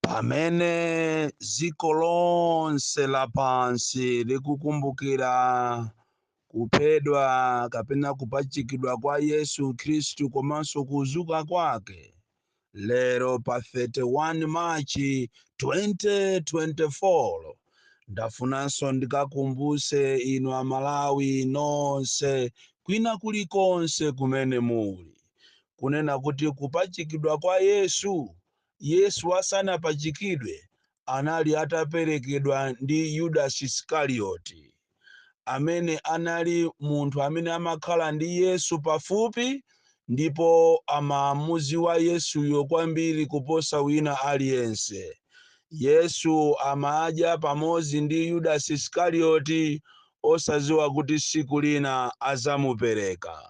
pamene dziko lonse lapansi likukumbukira kuphedwa kapena kupachikidwa kwa yesu khristu komanso kuzuka kwake lero pa 31 machi 2024 ndafunanso ndikukumbutseni inu amalawi nonse kwina kulikonse kumene muli kunena kuti kupachikidwa kwa Yesu, Yesu asanapachikidwe anali ataperekedwa ndi Yudasi Isikarioti, amene anali munthu amene amakhala ndi Yesu pafupi ndipo amamuziwa Yesuyo kwambiri kuposa wina aliyense. Yesu amadya pamodzi ndi Yudasi Isikarioti osaziwa kuti siku lina azamupereka.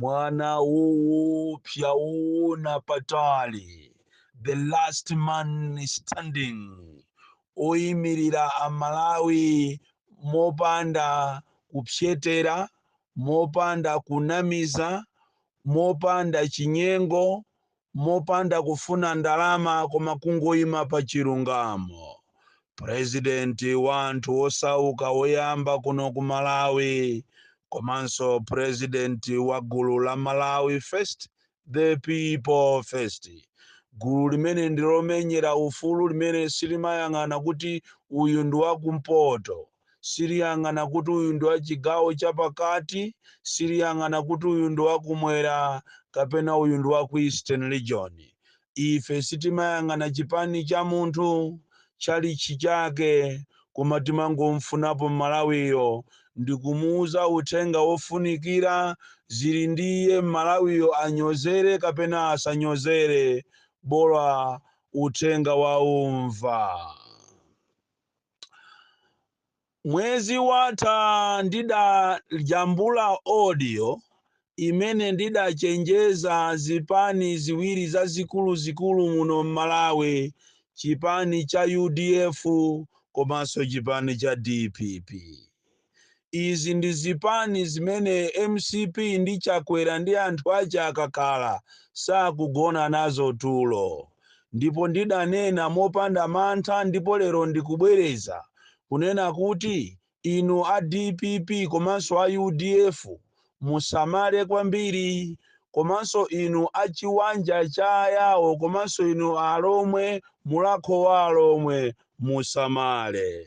mwana woopsa woona patali the last man standing oyimirira amalawi mopanda kupsetera mopanda kunamiza mopanda chinyengo mopanda kufuna ndalama koma kungoima pa chilungamo. President wa anthu osauka woyamba kuno ku Malawi komanso president wa gulu la Malawi first the people first. Gulu limene ndi lomenyera ufulu limene silimayang'ana kuti uyu ndi wakumpoto. siliyang'ana kuti uyu ndi wa chigawo chapakati siliyang'ana kuti uyu ndi wakumwera kapena uyu ndi wa ku eastern region ife sitimayang'ana chipani cha munthu chalitchi chake koma timangomfunapo mmalawiyo ndikumuuza uthenga wofunikira zili ndi iye mmalawiyo anyozere kapena asanyozere bola uthenga waumva mwezi watha ndidajambula audio imene ndidachenjeza zipani ziwiri zazikuluzikulu muno m'malawi chipani cha udf komanso chipani cha dpp Izi ndi zipani zimene mcp ndi Chakwera ndi anthu ache akakhala sakugona nazo tulo. Ndipo ndidanena mopanda mantha ndipo lero ndikubwereza kunena kuti inu a dpp komanso a udf musamale kwambiri komanso inu a chiwanja cha ayawo komanso inu alomwe mulakho wa alomwe musamale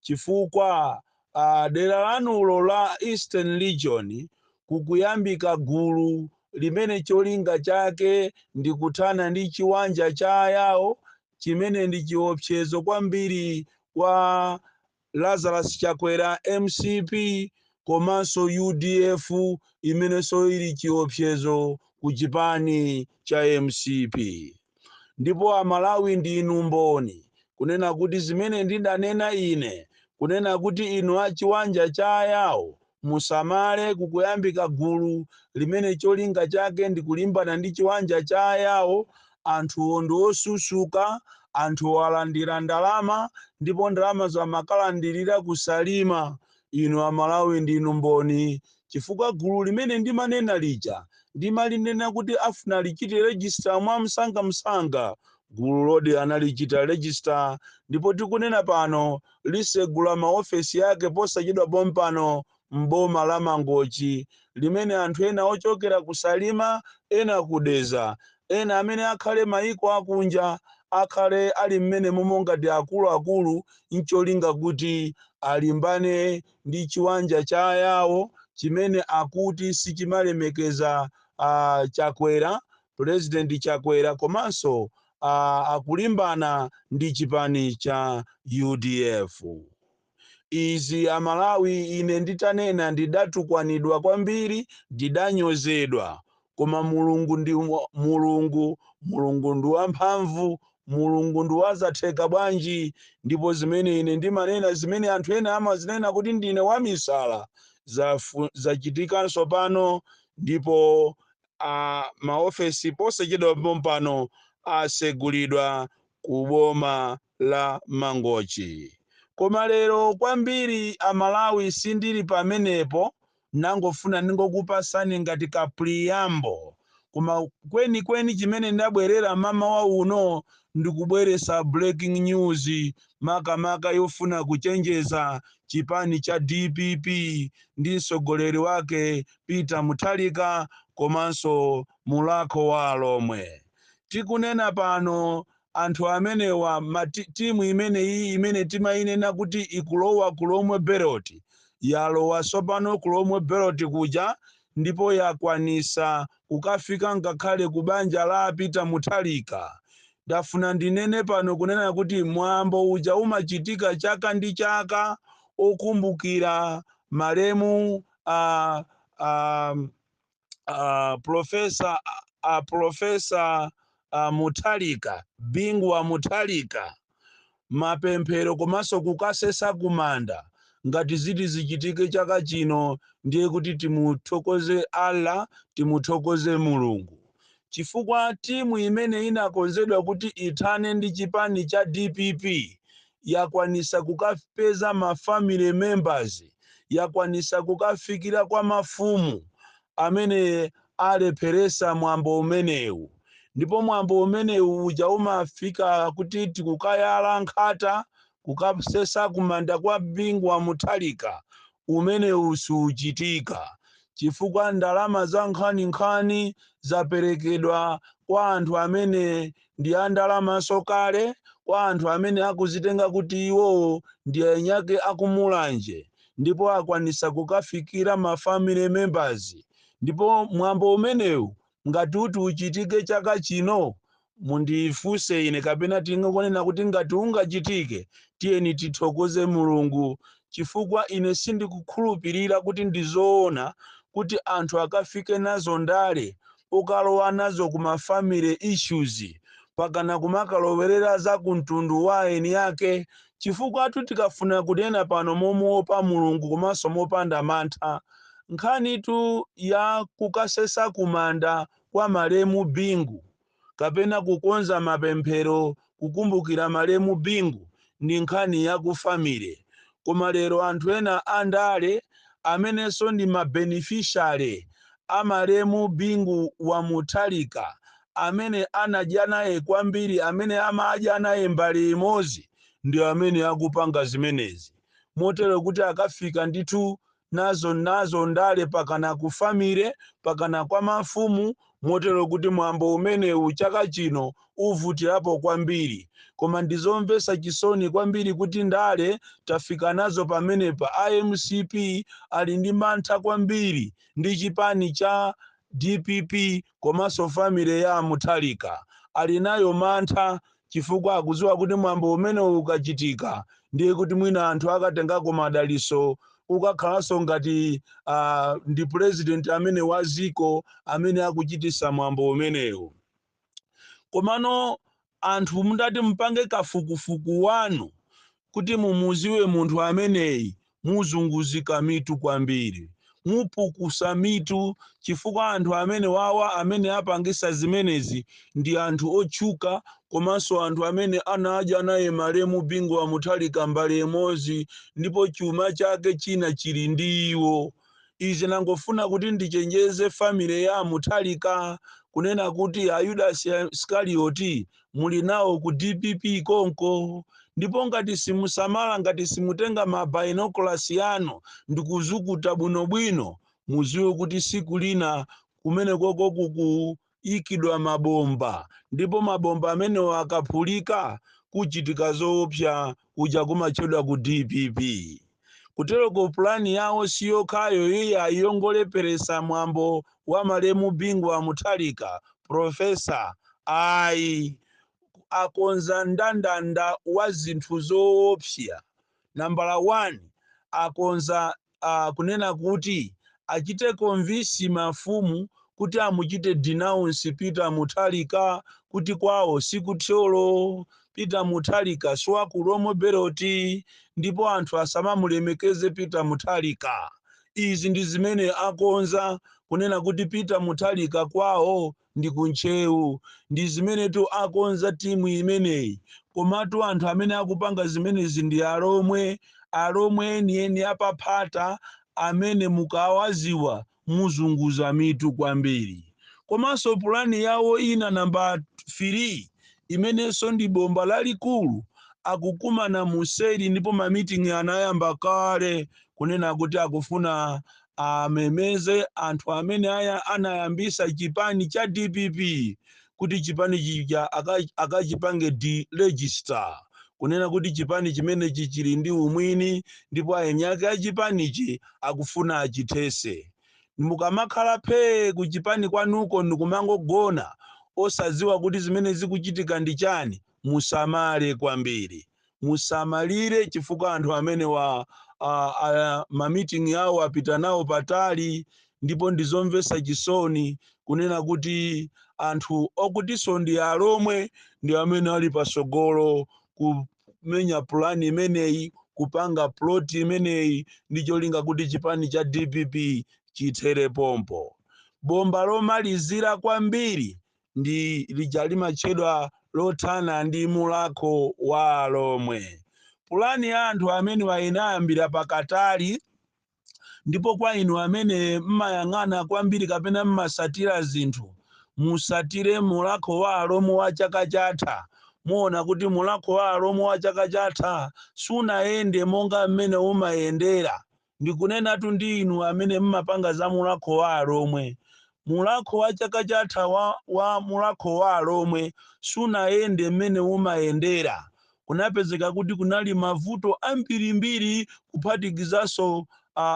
chifukwa uh, dera lanulo la eastern region kukuyambika gulu limene cholinga chake ndi kuthana ndi chiwanja cha ayawo chimene ndi chiopsezo kwambiri kwa Lazarus Chakwera mcp komanso udf imenenso ili chiopsezo ku chipani cha mcp ndipo a Malawi ndinu mboni kunena kuti zimene ndidanena ine kunena kuti inu a Chiwanja cha a Yao Musamale kukuyambika gulu limene cholinga chake ndi kulimbana ndi chiwanja cha a Yao, anthuwo ndi osusuka, anthuwo alandira ndalama ndipo ndalamazo amakalandirira ku Salima. Inu a Malawi ndinu mboni chifukwa gulu limene ndimanena lija ndimalinena kuti afuna alichite register mwa msangamsanga. Gululodi alichita register ndipo tikunena pano lisegula ma ofesi ake posachedwa pompano m'boma la Mangochi limene anthu ena ochokera ku Salima, ena ku Dedza, ena amene akhala maiko akunja akhale ali m'menemomo ngati akulu akulu ncholinga kuti alimbane ndi chiwanja cha ayawo chimene akuti sichimalemekeza a Chakwera, Pulezidenti Chakwera komanso a akulimbana ndi chipani cha udf izi amalawi ine nditanena ndidatukwanidwa kwambiri ndidanyozedwa koma mulungu ndi wa- mulungu mulungu ndi wamphamvu mulungu ndi wazatheka bwanji ndipo zimene ine ndimanena zimene anthu ena amazinena kuti ndine wamisala zafu- zachitika tsopano ndipo a maofesi posachedwa pompano asegulidwa ku boma la mangochi koma lero kwambiri amalawi sindili pamenepo nangofuna ndingokupasani ngati ka preamble koma kwenikweni chimene ndabwerera mmawa uno ndikubweresa breaking news makamaka yofuna kuchenjeza chipani cha dpp ndi mtsogoleri wake Peter Muthalika komanso Mulakho wa Alomwe. Tikunena pano anthu amenewa ma ti- timu imeneyi imene timayinena kuti ikulowa ku Lomwe Belt yalowa tsopano ku Lomwe Belt kuja ndipo yakwanisa kukafika ngakhale ku banja la a Peter Muthalika. Ndafuna ndinene pano kunena kuti mwambo uja umachitika chaka ndi chaka okumbukira malemu uh, um, uh, profesa uh, profesa uh, Mutharika Bingu wa Mutharika mapemphero komanso kukasesa kumanda ngati ziti zichitike chaka chino ndiye kuti timuthokoze allah timuthokoze mulungu chifukwa timu imene inakonzedwa kuti ithane ndi chipani cha dpp yakwanisa kukapeza ma family members, yakwanisa kukafikila kwa mafumu amene alephelesa mwambo umenewu. Ndipo mwambo umenewu uja umafika kuti tikukayala nkhata kukasesa kumanda kwa Bingu wa Mutharika, umenewu siuchitika chifukwa ndalama zankhaninkhani zapelekedwa kwa anthu amene ndi a ndalamanso kale kwa anthu amene akuzitenga kuti iwowo ndi eniake a ku Mulanje ndipo akwanitsa kukafikira ma family members ndipo mwambo umenewu ngati uti uchitike chaka chino mundifunse ine kapena tingonena kuti ngati ungachitike tiyeni tithokoze Mulungu chifukwa ine sindikukhulupirira kuti ndi zoona kuti anthu akafike nazo ndale kukalowa nazo ku ma family issues pakana kumakalowerera za ku mtundu wa eni ake chifukwatu tikafuna kunena pano momuopa Mulungu komanso mopanda mantha nkhanitu ya kukasesa kumanda kwa malemu Bingu kapena kukonza mapemphero kukumbukira malemu Bingu ndi nkhani ya ku family koma lero anthu ena a ndale amenenso ndi ma beneficiary a malemu Bingu wa Mutharika amene anadya naye kwambiri amene amadya naye mbale imodzi ndi amene akupanga zimenezi motero kuti akafika ndithu nazo nazo ndale pakana ku family pakana kwa mafumu motero kuti mwambo umenewu chaka chino uvutirapo kwambiri koma ndizomvesa chisoni kwambiri kuti ndale tafika nazo pamenepa a mcp ali ndi mantha kwambiri ndi chipani cha dpp komanso family ya Mutharika ali nayo mantha chifukwa akudziwa kuti mwambo umenewu ukachitika ndiye kuti mwina anthu akatengako madaliso ukakhalanso ngati uh, ndi president amene wa dziko amene akuchitisa mwambo umenewu komano anthu mutati mupange kafukufuku wanu Kuti mumuziwe munthu ameneyi muzunguzika mitu kwambiri, mupukusa mitu chifukwa anthu amenewawa amene apangisa zimenezi ndi anthu otchuka komanso anthu amene anadya naye malemu Bingu Wa Mutharika mbale imozi ndipo chuma chake china chili ndi iwo Ine ndangofuna kuti ndichenjeze family ya a Mutharika kunena kuti a Yudasi Iskalioti muli nawo ku dpp konko ndipo ngati simusamala ngati simutenga ma binoculars anu ndikuzukuta bwinobwino muziwe kuti siku lina kumenekoko kuku ikidwa mabomba ndipo mabomba amenewo akaphulika kuchitika zoopsa kuja kumatchedwa ku dpp kuteroko pulani yawo si yokhayo iyayi yongoleperesa mwambo wa malemu bingu wa mutharika profesa ayi akonza ndandanda wa zinthu zoopsa nambala 1 akonza kunena kuti achite convince mafumu kuti amuchite denounce Peter Mutharika kuti kwawo si ku Thyolo, Peter Mutharika si wa ku Lomwe Belt ndipo anthu asamamulemekeze Peter Mutharika. Izi ndi zimene akonza kunena kuti Peter Mutharika kwawo ndi ku ntcheu ndi zimenetu akonza timu imeneyi komatu anthu amene akupanga zimenezi ndi alomwe alomwe enieni apaphata amene mukawaziwa muzunguza mitu kwambiri komanso pulani yawo ina namba 3 imenenso ndi bomba lalikulu akukumana museri ndipo mamiting'i anayamba kale kunena kuti akufuna amemeze anthu amene a- anayambisa chipani cha dpp kuti chipani chija aka- akachipange deregister kunena kuti chipani chimenechi chili ndi umwini ndipo ayeni ake a chipanichi akufuna achithese mukamakhala phee ku chipani kwanuko ndikumangogona osadziwa kuti zimene zikuchitika ndi chani musamale kwambiri musamalire chifukwa anthu amenewa a, a, mamiting awo apita nawo patali ndipo ndizomvesa chisoni kunena kuti anthu okutiso ndi alomwe ndi amene ali pasogolo kumenya pulani imeneyi kupanga ploti imeneyi ndi cholinga kuti chipani cha dpp chithere pompo bomba lomalizira kwambiri ndi lija limatchedwa lothana ndi mulakho wa alomwe pulani ya anthu amenewa inayambira pakatali ndipo kwa inu amene mmayang'ana kwambiri kapena mmasatira zinthu musatire mulakho wa alomwe wa chaka chatha muona kuti mulakho wa alomwe wa chaka chatha sunayende monga mmene umayendera Ndikunenatu ndi inu amene mmapanga za mulakho wa alomwe. Mulakho wa chaka chatha wa wa mulakho wa alomwe sunayende mmene umayendera. Kunapezeka kuti kunali mavuto ambirimbiri kuphatikizanso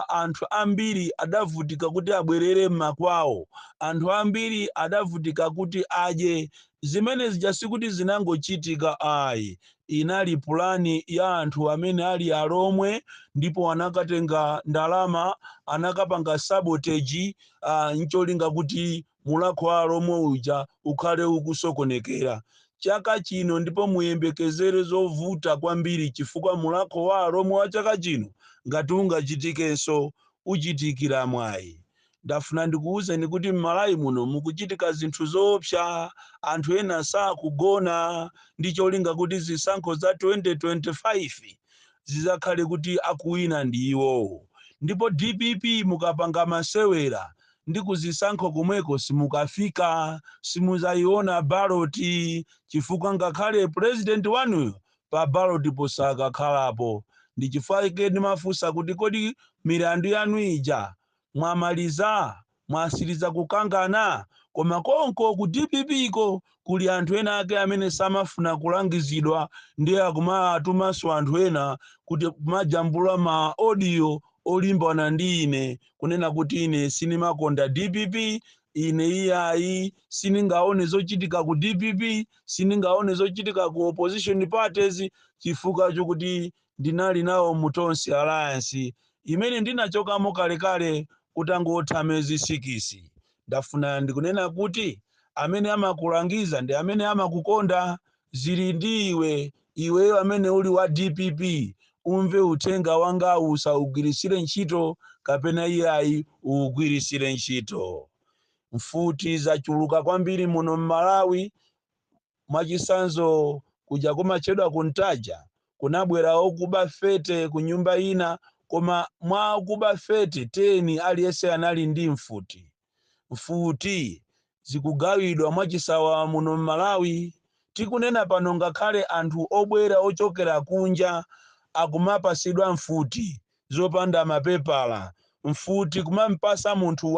anthu ambiri adavutika kuti abwerere mmakwawo. Anthu ambiri adavutika kuti adye Zimene zija sikuti zinangochitika ayi, inali pulani ya anthu amene ali alomwe ndipo anakatenga ndalama, anakapanga sabotage n'cholinga kuti mulakho wa alomwe uja ukhale ukusokonekera. Chaka chino ndipo muyembekezere zovuta kwambiri chifukwa mulakho wa alomwe wa chaka chino ngati ungachitikenso, uchitikira mwayi. Ndafuna ndikuuzeni kuti m'Malawi muno mukuchitika zinthu zoopsa. Anthu ena sakugona ndi cholinga kuti zisankho za 2025 zidzakhale kuti akuwina ndi iwowo. Ndipo dpp mukapanga masewera ndi kuzisankho komweko simukafika, simudzaiona ballot chifukwa ngakhale president wanuyo pa ballot po sakakhalapo. Ndi chifukwa chake ndimafunsa kuti kodi milandu yanu ija mwamaliza? Mwasiliza kukangana? Koma konko ku dpp ko kuli anthu ena ake amene samafuna kulangizidwa ndiye akumawatumanso anthu ena kuti kumajambula ma audio olimbana ndi ine kunena kuti ine sinimakonda dpp ine iyayi siningaone zochitika ku dpp siningaone zochitika ku opposition parties chifukwa chokuti ndinali nawo mu Tonse Alliance imene ndinachokamo kalekale kutangotha miyezi sikisi. Ndafuna ndikunena kuti amene amakulangiza ndi amene amakukonda zili ndi iwe. Iweyo amene uli wa dpp umve uthenga wangawu usaugwiritsire ntchito kapena iyayi uugwiritsire ntchito. Mfuti zachuluka kwambiri muno m'Malawi. Mwachisanzo kuja kumatchedwa ku Ntaja kunabwera okuba 30 ku nyumba ina koma mwa akuba 30, 10 aliyense anali ndi mfuti. Mfuti zikugawidwa mwachisawawa muno m'Malawi. Tikunena pano ngakhale anthu obwera ochokera kunja akumapatsidwa mfuti zopanda mapepala. Mfuti kumam'patsa munthu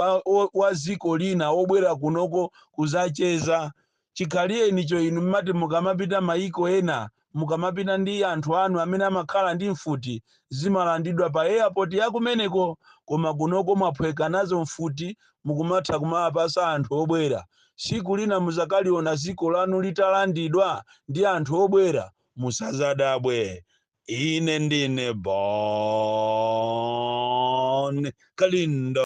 wa dziko lina wobwera kunoko kudzacheza Chikhalirecho inu mmati mukamapita maiko ena, mukamapita ndi anthu anu amene amakhala ndi mfuti, zimalandidwa pa airport ya kumeneko. Koma kunoko mwaphweka nazo mfuti mukumatha kumawapasa anthu obwera. Siku lina muzakaliona ziko lanu litalandidwa ndi anthu obwera. Musazadabwe. Ine ndine Bon Kalindo.